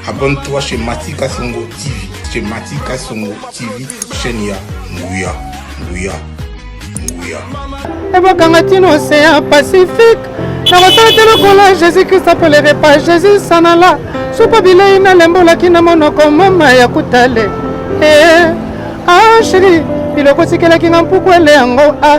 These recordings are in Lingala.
Abonne-toi chez Matika Songo TV. Chez Matika Songo TV, chaîne ya Nguya, Nguya, Nguya. ebakanga ntina océan pacifique nakosala te lokola jésus krist apolere pa jésus sanala supa bilei nalembolaki na monoko mama ya kutale ee ah sheri biloko tikelaki nga mpuku ele yango ah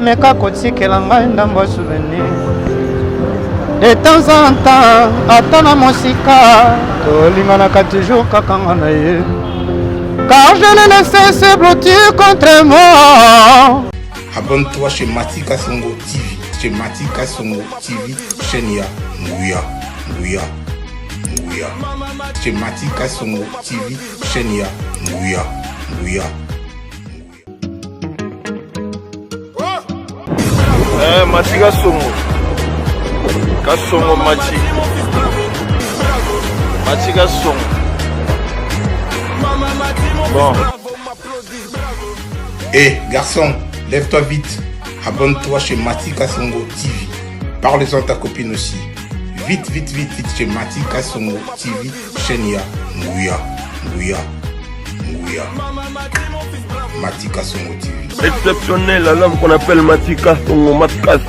meka kotikela ngai ndambo ya souvenir de temps en temps ata na mosika tolinganaka toujours kaka nga na ye car je ne laisse se blottir contre moi abonne-toi chez matika songo tv chez matika songo tv chaîne ya nguya nguya nguya chez matika songo tv chaîne ya nguya nguya Eh, mati kasongo kasongo mati mati kasongo bon Eh, garçon, lève-toi vite. Abonne-toi chez Mati Kasongo TV. Parle-en à ta copine aussi. Vite, vite, vite, vite chez Mati Kasongo TV. chaîne ya nguya nguya nguya matika songo tv exceptionnel un homme qu'on appelle matika songo makas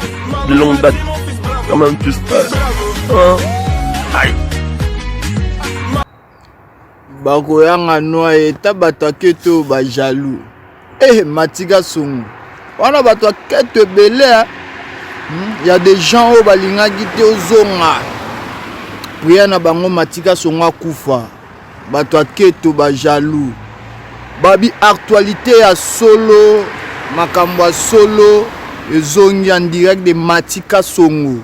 de longue date quand même tu stars hein? aïe bakoyanga noye ta bato ake to bajaloux Eh, Matika Songo. Wana bato ya keto ebele hmm, ya des gens oyo balingaki te ozonga priya na bango Matika Songo akufa bato ya keto bajaloux babi actualité ya solo makambo ya solo ezongi en direct de Matika Songo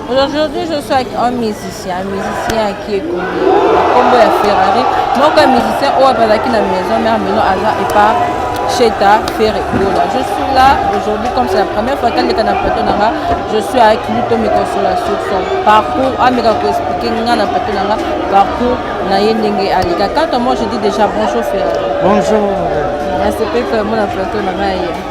Aujourd'hui, je suis avec un musicien, un musicien qui est connu, combo ya Ferrari. Donc, un musicien oyo azalaki na maison mère maintenant aza epa Cheta Ferre Gola. Je suis là aujourd'hui comme c'est la première fois qu'elle est dans plateau nanga. Je suis avec lui to me consola sur son parcours, ameka ko expliquer nga na plateau nanga parcours na ye ndenge alika. Quand moi je dis déjà bonjour Ferre. Bonjour. Nasepeli vraiment na plateau nanga ye.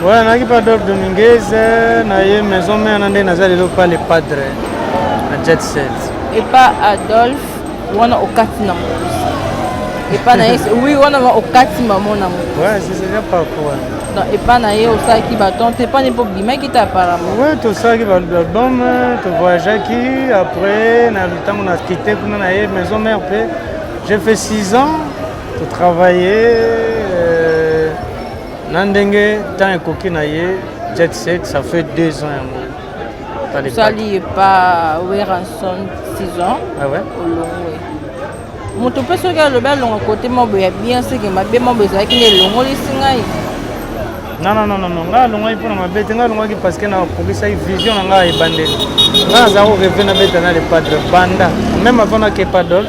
Voilà, naki Padre Dominguez, na ye maison mère na nde naza lelo pale padre na jet set. Epa Adolphe wana okati na mokusi. Epa na ye oui wana okati maman na mokusi. Ouais, c'est déjà pas quoi. Donc epa na ye osalaki baton te epa na ye mpo obimaki te apparemment. Ouais, tosalaki baalbum, tovoyageaki après na ntango na kite kuna na ye maison mère mpe j'ai fait 6 ans, totravaillais na ndenge temps ekoki na ye jet set ça fait deux ans yango osali epa weranson six ans ah olongwe moto mpe soki alobi alonga kote mabo ya bien seke mabe mabo ezalaki na elongolisi ngai nanananano ngai alongaki mpo na mabe te ngai alongaki parce que nakokisaki vision na ngai ya ebandeli ngai naza koreve nabeta na le padre banda meme avant nakepadol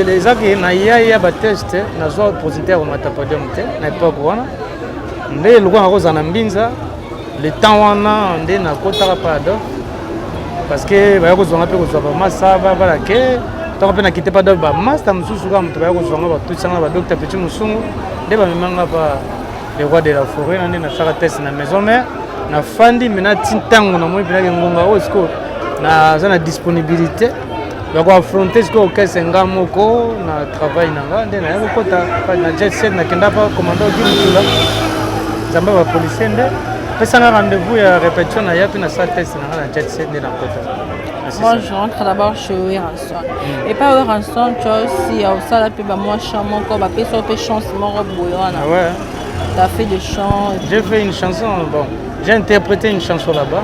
eza ke na yaya bateste nazwa positif ya komata podium te na epoke wana nde lokola nakozala na mbinza le temps wana nde nakotaka pado parce que baya kozwanga mpe kozwa bamasa babala ke ntango mpe nakite pado bamasta mosusu kaka moto baya kozwanga batutisanga na badokta peti mosungu nde bamemanga pa le roi de la forêt na nde nasaka test na maison mare nafandi mpe nati ntango namoni mpenaki ngonga oyo sikoyo naza na disponibilité na koafronte sikoyo kese nga moko na travail na nga nde naya kokota na jet set nakenda pa commando kimutula nzambe ya bapolisier nde pesanga rendez-vous ya répétition na ya mpe na sa test na nga na jet set nde nakota Moi, je rentre d'abord chez Weranson. Mm. Et pas Weranson, tu vois, si au sala pe ba moi chant mon corps, ba pe so pe chance mon robe boyona. Ah ouais. T'as fait des chants. J'ai fait une chanson, bon, j'ai interprété une chanson là-bas.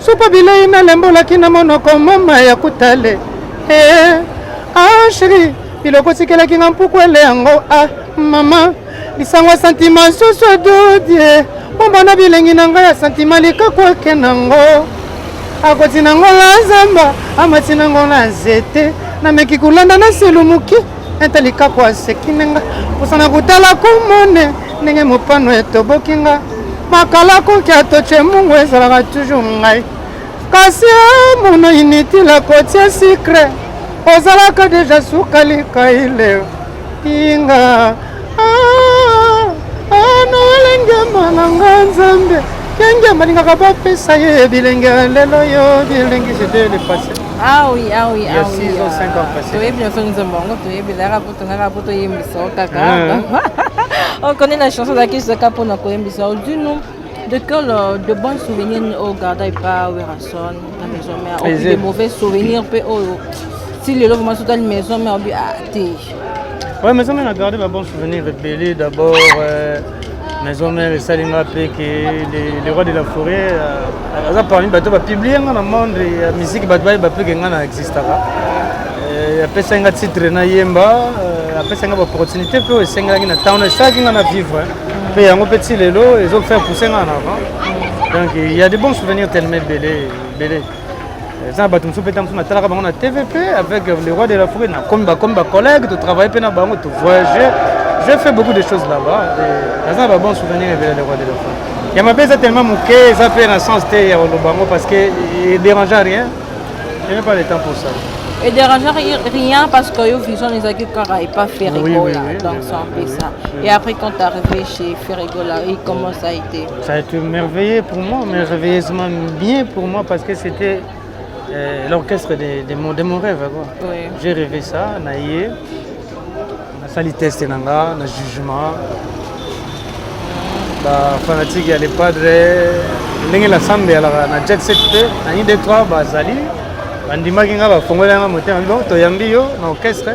Sopa bilei nalembolaki na monoko mama ya kutale eh, ah sheri biloko tikelaki nga mpuku ele yango ah mama lisango ya santima susu edodie bomba na bilengi na ngai ya santima likaku ake nango akoti nango na zamba amati nango na nzete nameki kolanda na selumuki ete likaku asekine nga mposana kotala komone ndenge mopano etoboki nga makala koki atoce mungu ezalaka toujours ngai kasi mono initile kotie sikre ozalaka deja sukali kaile inga anolengema na nga nzambe kenge balingaka bapesa ye bilenge lelo yo bilenge jete lepase awi awi awi toyebi nyonso nzembo yango toyebi tongaka mpo toyembisa yo kaka okoni na chanson ozalaki zaka mpo na koyembisa yo dinu de quel euh, de bon souvenir oyo garda epa werrason na maison mère opi de mauvais souvenir mpe oyo ti lelo vraimen soki otali maison mère obi a ah, te Ouais, mais on a gardé ma bonne souvenir, Bélé d'abord. Euh... maison mère esali nga mpe ke le roi de la forêt euh, aza parmi bato bapublie nga na monde ya miziki bato bayeba mpe ke nga na existaka euh, apesaki nga titre nayemba euh, apesaki nga baopportunité mpe oyo esengelaki na ntango esalaki nga na vivre mpe yango mpe ti lelo ezofaire pouse nga na avant donc il y a de bons souvenirs tellement ebele ebele eza na bato mosusu mpe ntango mosusu natalaka bango na tv mpe avec le roi de la forêt nakomi bakomi bacollègue totravaille mpe na bango tovoyage je fais beaucoup de choses là-bas naza na babon souvenir ebele le roi de la forêt ya mabe eza tellement moke eza mpe na sens te ya koloba yango parce que edérange rien je n'ai pas le temps pour ça et déranger rien parce que yo vision les agues kara et pas Ferrigola oui, oui, oui, donc c'est un peu ça et après quand t'es arrivé chez Ferrigola comment ça a été Ça a été merveilleux pour moi, merveilleusement bien pour moi parce que c'était euh, l'orchestre de, de, mon, de mon rêve. Quoi. Oui. J'ai rêvé ça, naïe. nasali teste na nga na jugement bafanatike ya lepadre ndenge lasambe yalaka na jet set mpe na ide 3 bazali bandimaki nga bafongoli yanga motema bibo toyambi yo na orchestre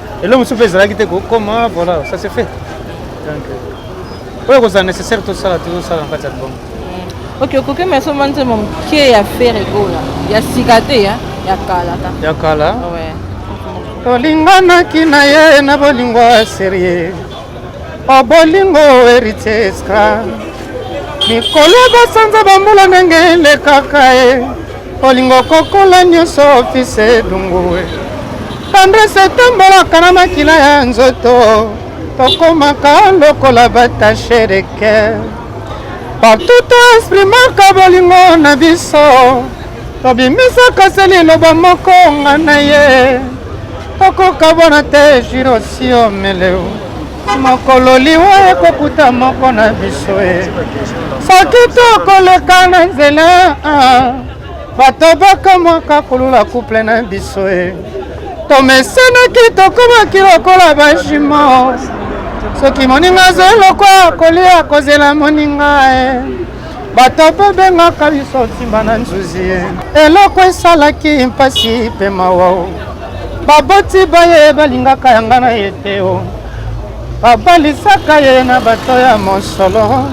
eloko mosusu mpe ezalaki te kokoma voilà ça se fait donc euh, oyo ekozala nécessaire tosala tozosala na kati ya album ok okoki me asomba nzembo moke ya fere egola ya sika te ya ya kala ka ya kala Ouais. tolinganaki na ye na bolingo ya serie O bolingo heritier escra mikolo ya basanza bambula ndenge elekaka e olingo kokola nyonso ofise edungue tendrese etambolaka na makila ya nzoto tokomaka lokola batashe de ker partout to exprimaka bolingo na biso tobimisaka se liloba moko nga na ye tokokabwana te jirosio meleu mokolo liwa ekokuta moko na biso e soki tokoleka na nzela ah, bato bakamwaka kolula kuple na biso e tomesenaki tokomaki lokola bajimo soki moninga azali lokwa kolia kozela moninga e batata bengaka biso nsimba na nzuzi eloko esalaki mpasi mpe mawa o baboti baye balingaka yanga na ye te o babalisaka ye na bato ya mosolo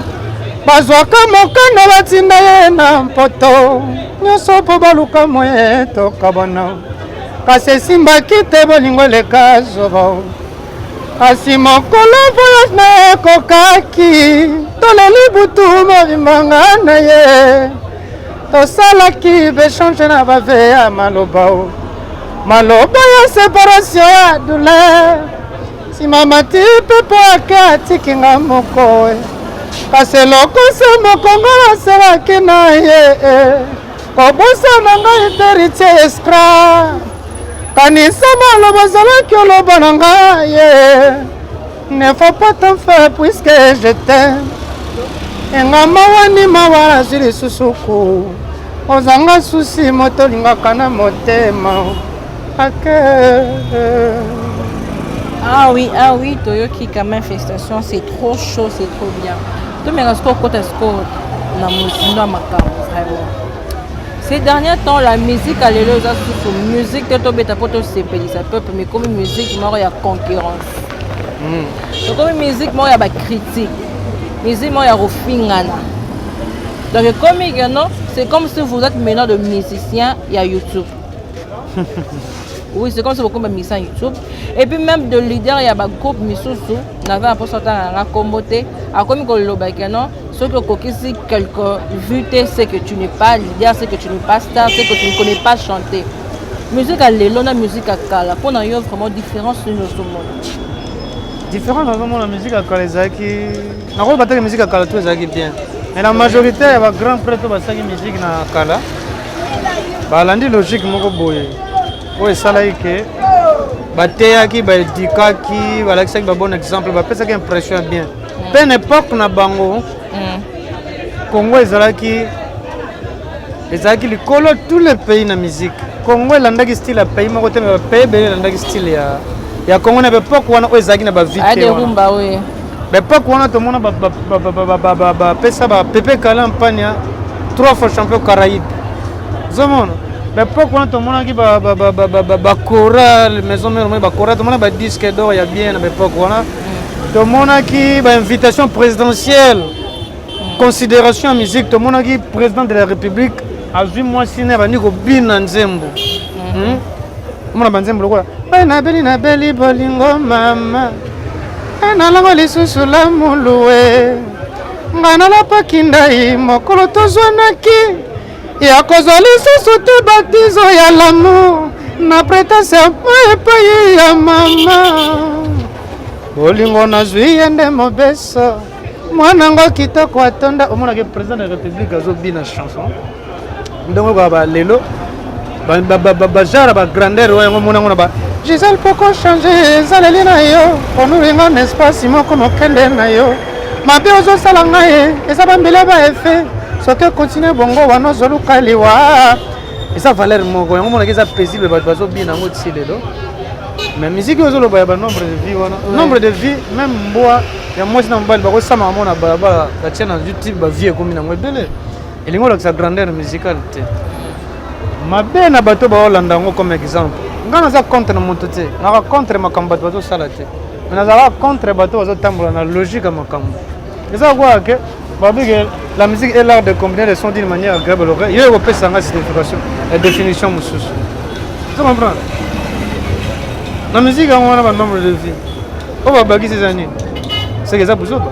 bazwaka mokano batinda ye na mpoto nyonso mpo baluka moye tokabwana kasi esimbaki te bolingo eleka zoba kasi mokolo voyage na ekokaki toleli butu mobimanga na ye tosalaki bechange na bave ya maloba o maloba ya separatio ya douleur nsima mati pepo ake atiki nga moko kasi eloko se mokongo aselaki na ye eh. kobosana ngai verite escra kanisa maloba ozalaki oloba na ngai ye ne faut pas t'en faire puisque je t'aime enga mawa ni mawa nazwi lisusu ku ozanga susi moto olingaka na motema ake Ah oui, ah oui, Toyoki, quand même, félicitations, c'est trop chaud, c'est trop bien. tomeka sikoyo kota sikoyo na mozindo ya makambo vraiment ces derniers temps la musique ya lelo eza susu musique te tobeta mpo tosepelisa peuple mais ekomi musique moko ya concurrence ekomi hmm. musique moko ya bacritique musique moko ya kofingana donc ekomi que non c'est comme si vous êtes maintenant de musicien ya youtube oui c'est comme si bokomi bamisa youtube et puis même de leader ya bagroupe misusu naza na mposa otanga nanga nkombo te akomi koloba ke non soki okokisi quelque vue te ce que tu n'es pas leader ce que tu n'es pas star ce que tu ne connais pas chanter musique ya lelo na musique ya kala mpo na yo vraiment différence nini ozomona différence nazomona musique ya kala ezalaki nakoloba te ke musique ya kala to ezalaki bien mais na majorité ya bagrand prêtre oyo basalaki musique na kala balandi logique moko boye oyo esalaki ke bateyaki baedikaki balakisaki babon exemple bapesaki impression ya bien mpe mm. na epoke na bango mm. congo ezalaki ezalaki likolo tous les pays na musique congo elandaki style ya pays moko te me bapays ebele elandaki style ya, ya congo na baepoke wana oyo ezalaki na bavite baepoke wana tomona bapesa bapepe kala mpania trois fois champion caraïbe ozomona na epoque wana tomonaki bacorale maison mère moi bacorale tomona badisque d'or ya bien na baepoque wana tomonaki bainvitation présidentielle considération ya musique tomonaki président de la république azwi mwasi na abandi kobina nzembo hmm? omona banzembo lokola bai nabeli nabeli bolingo mama e nalango lisusu lamulue ngai nalapaki ndai mokolo tozwanaki ya kozwa lisusu te batizo ya lamour na pretence ya epai ya mama bolingo nazwi ye nde mobeso mwana yango kitoko atonda omonaki président de la république azobina chanson ndenge okoyaba lelo bajara ba grandeur oyo yango mona ngona ba gisele poko change ezaleli na yo onulinga na espace moko mokende na yo mabe ozosala ngai eh, eza bambele ba effet soki continue bongo wana ozoluka liwa eza valeur moko yango monaki eza paisible bato bazobina yango ti lelo mais miziki oyo ozoloba ya banombre de vie wana nombre de vie meme mbwa ya mwasi na mobali bakosamaka mona na balabala batia na youtube bavie ekomi nango ebele elingi olakisa grandeur musicale te mabe na bato baolanda yango comme exemple ngai naza contre na moto te naka contre makambo bato bazosala te me nazalaka contre bato bazotambola na logique ya makambo eza kokoka ke babike la musique est l'art de combiner les sons d'une manière agréable l'oreille yo ekopesa ngai signification ya définition mosusu ozo comprendre na musique yango wana banombre de vie oyo babakisi eza nini seke eza buzoba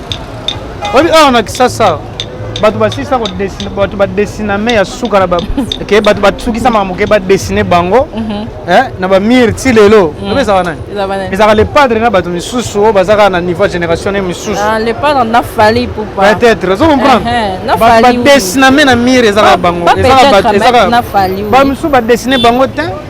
oyebi awa na kisasa bato basilisa bato badesiname ya suka na ke bato basukisamaka moke badesine bango mhm. eh, na bamire ti lelo mhm. obe ezaka nani ezaka le padre na bato misusu oyo bazaka na niveau ya génération ne misusu ah, peut-être ozo comprendre eh, eh, bato badesiname na mire ezaka bango ezaka bato ezaka bamisusu badesine bango te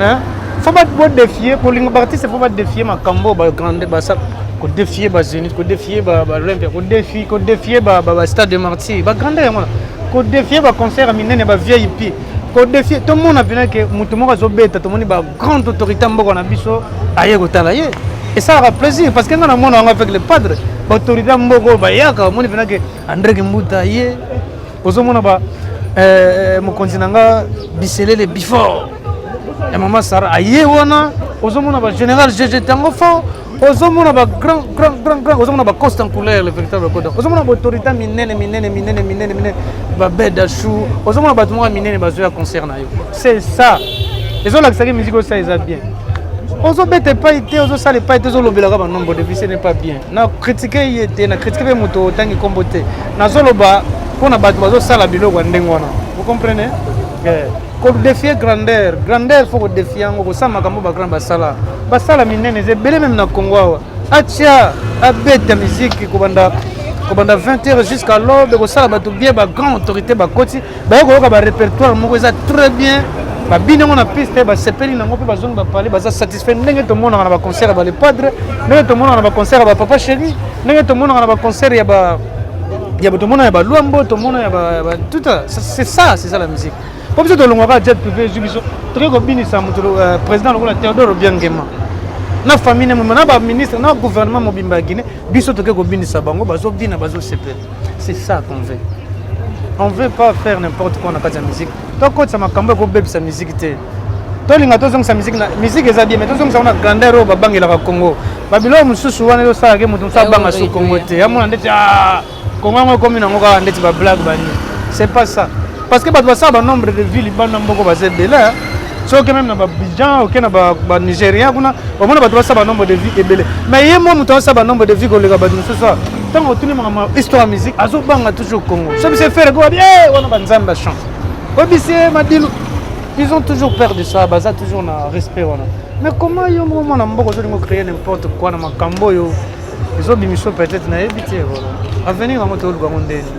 hein faut ba bo défier ko linga ba artiste faut ba défier makambo ba grande ba sa ko défier ba zenith ko défier ba ba olympia ko défier ko défier ba ba stade de martyr ba grande yango ko défier ba concert minene ba VIP ko défier to mona pena ke mutu moko zo beta to moni ba grande autorité mboko na biso aye ko tala ye et ça aura plaisir parce que nga na mona yango avec le padre ba autorité mboko ba yaka moni pena ke André Kimbuta ye Ozo mona ba eh, mokonzi na nga biselele before ya mama Sara aye wana ozo mona ba general jeje tango fort ozo mona ba grand grand grand grand ozo mona ba costa en couleur le véritable coda ozo mona ba autorité minene minene minene minene minene ba beda chou ozo mona bato moko minene bazo ya concert na yo c'est ça ezo lakisa ke musique osa eza bien ozobeta epai te ozosala epai te ozolobelaka banombo depuis ce n'est pas bien na kritike ye te na kritike mpe moto otangi nkombo te nazoloba mpo na bato bazosala biloko ya ndenge wana vous comprenez eh, kodefie grandeur grandeur fo kodefie yango kosala makambo bagrand basala basala minene eza ebele meme na congo awa atia abeta miziki kobanda kobanda 20 heures jusqu'à l'aube kosala bato bien bagrand autorité bakoti baye koyoka ba repertoire moko eza très bien babini yango na piste basepeli nango mpe bazongi bapale baza satisfait ndenge tomonaka na baconcert ya bale padre ndenge tomonaka na baconcert ya bapapa chéri ndenge tomonaka na baconcert ya ba ya tomona ya baluambo tomona ya tout c'est ça c'est ça la musique mpo biso tolongwaka jet privé ezwi biso tokoki kobinisa moto euh, président lokola théodore obiangema na famille na baministre na gouvernement mobimba ya guinée biso tokoki kobinisa bango bazobina bazosepela C'est ça qu'on veut. On veut pas faire n'importe quoi na kati ya musique. Tokotisa makambo ekobebisa musique te. tolinga tozongisa miziki na miziki eza bien mais tozongisa wana grandeur oyo babangelaka congo babiloko mosusu wana ezosalaka moto mosusu abanga su congo te yamona ndeti ah, congo yango ekomi nango kaka ndeti bablague bani c'est pas ça parce que bato basala banombre de ville bana mboko baza ebele soki oke meme na babijan oke na banigeria kuna omona bato basala banombre de vie ebele mais ye mwa moto asala banombre de vie koleka bato mosusu a ntango otuni makambo histoire ya musique azobanga toujours congo so biso efere ko babi e wana banzambe bachance obisi ye madilu ils ont toujours peur de ça baza toujours na respect wana mais comment yo moko mwana mboka ozolinga ocréer n'importe quoi na makambo oyo ezobimiso peut-être nayebi te avenir yango toyoluka yango ndeni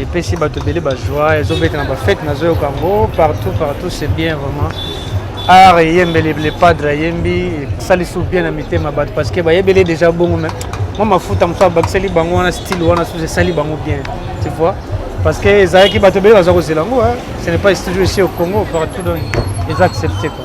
epesi bato ebele bazwa ezobeta na bafete nazoyoka yango partout partout c'est bien vraiment art eyembeli le padre ayembi esalisi bien na mitema bato parce que bayebeli déjà bongo mais mwa mafuta mosusu abakiseli bango wana style wana susu esali bango bien tu vois parce que ezalaki bato ebele baza kozela yango ce n'est pas toujours ici au congo partout donc eza accepté quoi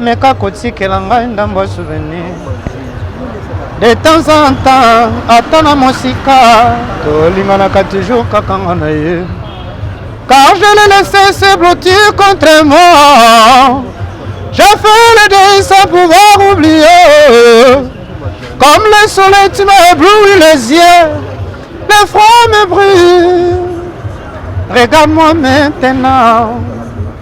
Meka kotikela ngai ndambo ya souvenir de temps en temps ata na mosika tolinganaka toujours kaka nga na ye car je le laisse se blottir contre moi je fais le deuil sans pouvoir oublier comme le soleil tu m'as ébloui les yeux le froid me brûle regarde-moi maintenant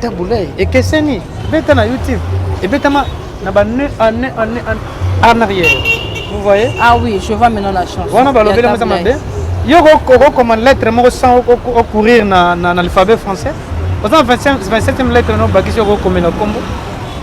Tabuley ekeseni beta na YouTube ebetama na ba ne en ne en ne en arrière. Vous voyez? Ah oui, je vois maintenant la chanson. Wana balobela meza mabe. Yo ko ko lettre moko sans au courir na na l'alphabet français. Oza 25 27e lettre no bakisi yo ko komela kombo.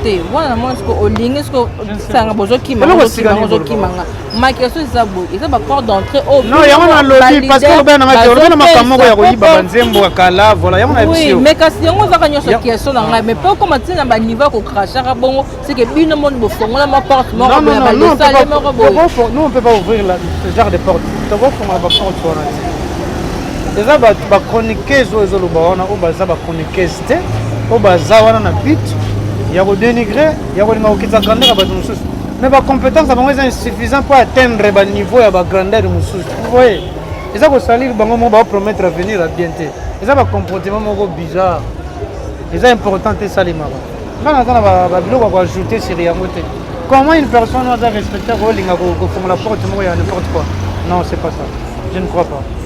Te wana mwana siko olingi siko sanga bozokima bozokima nga. ma question eza boye eza ba porte d'entrée oyo non yango nalobi parce que olobela na ngai olobela makambo moko ya koyiba banzembo ya kala voilà yango na biso mais kasi yango ezaka nyonso question na ngai mais mpe okoma ntina na baniveau ya kokrashaka bongo seke bino moni bofongola ma porte moko boya balesale moko boye nous on peut pas ouvrir ce genre de porte tokofongola ba porte wana te eza ba chroniqueuse oyo ezoloba wana oyo baza ba chroniqueuse te oyo baza wana na bit ya kodenigre ya kolinga kokitisa grandeur ya bato mosusu mais bacompétence na bango eza insuffisant mpo atteindre baniveau ya bagrandeur mosusu voye eza kosalire bango moko baopromettre avenir ya bien te eza bacomportement moko bizarre eza important te esalemaka nga naza na babiloko ya koajoute sur yango te comment une personne aza respecter kolinga kofongola porte moko ya n'importe quoi non c'est pas ça je ne crois pas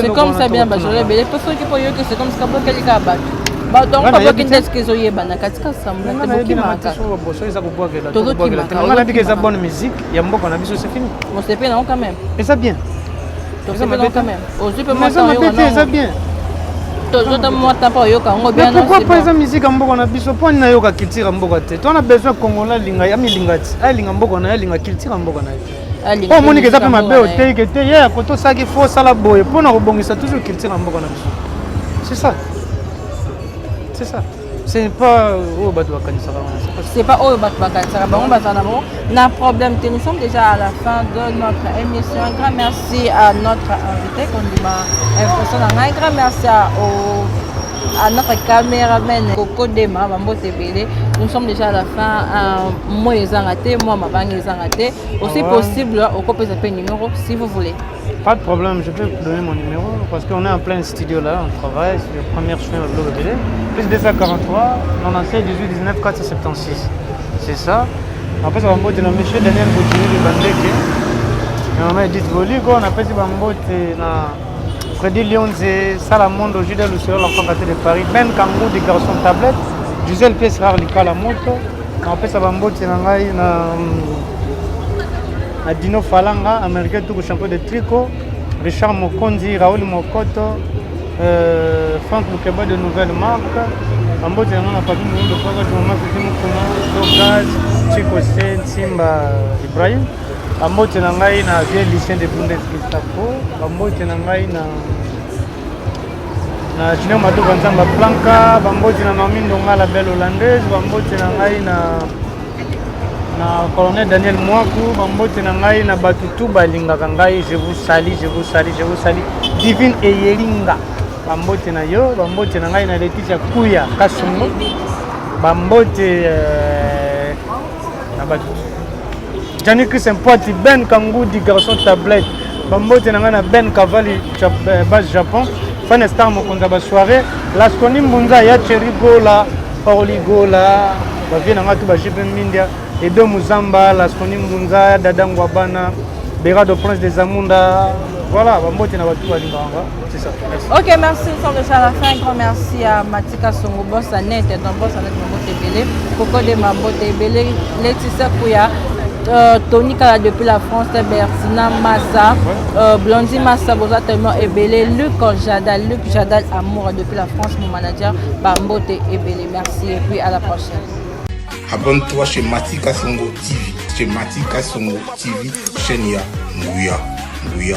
C'est comme ça bien bajola ebele mpo soki mpo yoki c'est comme ça bokeli kaka bato bato yango babwaki nde soki ezoyebana katika sambla te bokimaka tozokimakaosepeli nango quand même eza bien tosepeli nango quand même ozwi mpe mwaeza bien tozota mwa tapa oyoka yango bianpourkoi mpo eza mizika mboka na biso mpo ani nayoka culture ya mboka te to na besoin congolais alinga ya milinga ti alinga mboka na ye alinga culture ya mboka na ye oyo omonike eza mpe mabe oteyi ke te ye ya koto osalaki fo osala boye mpo na kobongisa toujours culture na mboka na biso c'est ça c'est ça c'est pas oyo bato bakanisaka c'est pas oyo bato bakanisaka bango baza na bango na problème te nous sommes déjà à la fin de notre émission un grand merci à notre invité kondima impression na ngai grand merci à au à notre cameraman Coco Dema bambote ebele nous sommes déjà à la fin euh, moi ezanga te moi mabanga ezanga te aussi ah ouais. possible okopesa pe numéro si vous voulez pas de problème je peux vous donner mon numéro parce qu'on est en plein studio là on travaille sur le premier chemin de l'eau de plus 243 96 18 19 476 c'est ça après ça va mbote na monsieur Daniel Boutini de Bandeke na mama Edith Boliko napesi bambote na Freddy Lionze, Sala Mondo, Judas Lucero, l'enfant gâté de Paris, Ben Kangou, des garçons tablettes, Gisèle Pièce Rare, Likala Moto, napesa bamboti na ngai na na Dino Falanga, américain tout champion de tricot, Richard Mokonzi, Raoul Mokoto, euh, Franck Lukeba de Nouvelle Marque, bamboti na ngai na Papi Mondo, Papa Jumama, Kuti Mukuna, Togaz, Chico Se, Nsimba, Ibrahim, Bambote na ngai na vieux Lucien de Bundes Gestapo, bambote na ngai na na Junior Matoba Nzamba Planka, bambote na Mami Ndonga la belle hollandaise, bambote na ngai na na colonel Daniel Mwaku, bambote na ngai na bato tout balingaka ngai, je vous salue, je vous salue, je vous salue. Divine Eyelinga, bambote na yo, bambote na ngai na Letitia Kuya Kasongo, bambote euh, na batu Gianni Chris Mpati Ben Kangudi garçon tablette bambote na ngai na Ben Kavali eh, base Japon fan star mokonzi ya basoirée laskoni mbunza ya cheri gola paoli gola bavie na ngai tu bajipe mindia edo muzamba laskoni mbunza ya dada ngwabana berado prince des amunda voilà bambote na batu balingaka Ok, merci. Nous sommes déjà à la fin. Un grand merci à Matika Songo, boss à net, et ton boss à net, mon boss Ebele, Coco de ma botte Ebele, Laetitia Kouya, euh, Tony Kala depuis la France, Bertina Massa, euh, Blondie Massa, Boza tellement Ebele, Luc Jadal, Luc Jadal Amour depuis la France, mon manager, Bambote Ebele. Merci et puis à la prochaine. Abonne-toi chez Matika Songo TV, chez Matika Songo TV, chaîne ya Nguya, Nguya.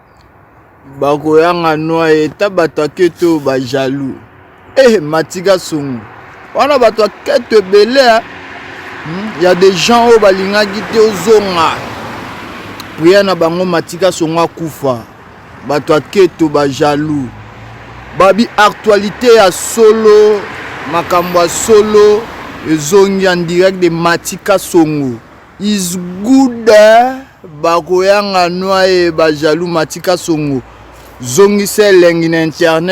bakoyanga nwa ye ta bato ya keto oyo ba jaloux eh matika songo wana bato ya keto ebele hmm, ya des gens oyo balingaki te ozonga priere na bango matika songo akufa bato ya keto ba jaloux babi actualité ya solo makambo ya solo ezongi en direct de matika songo Is good bakoyanga noye ba jaloux matika songo zongisa elengi na internet.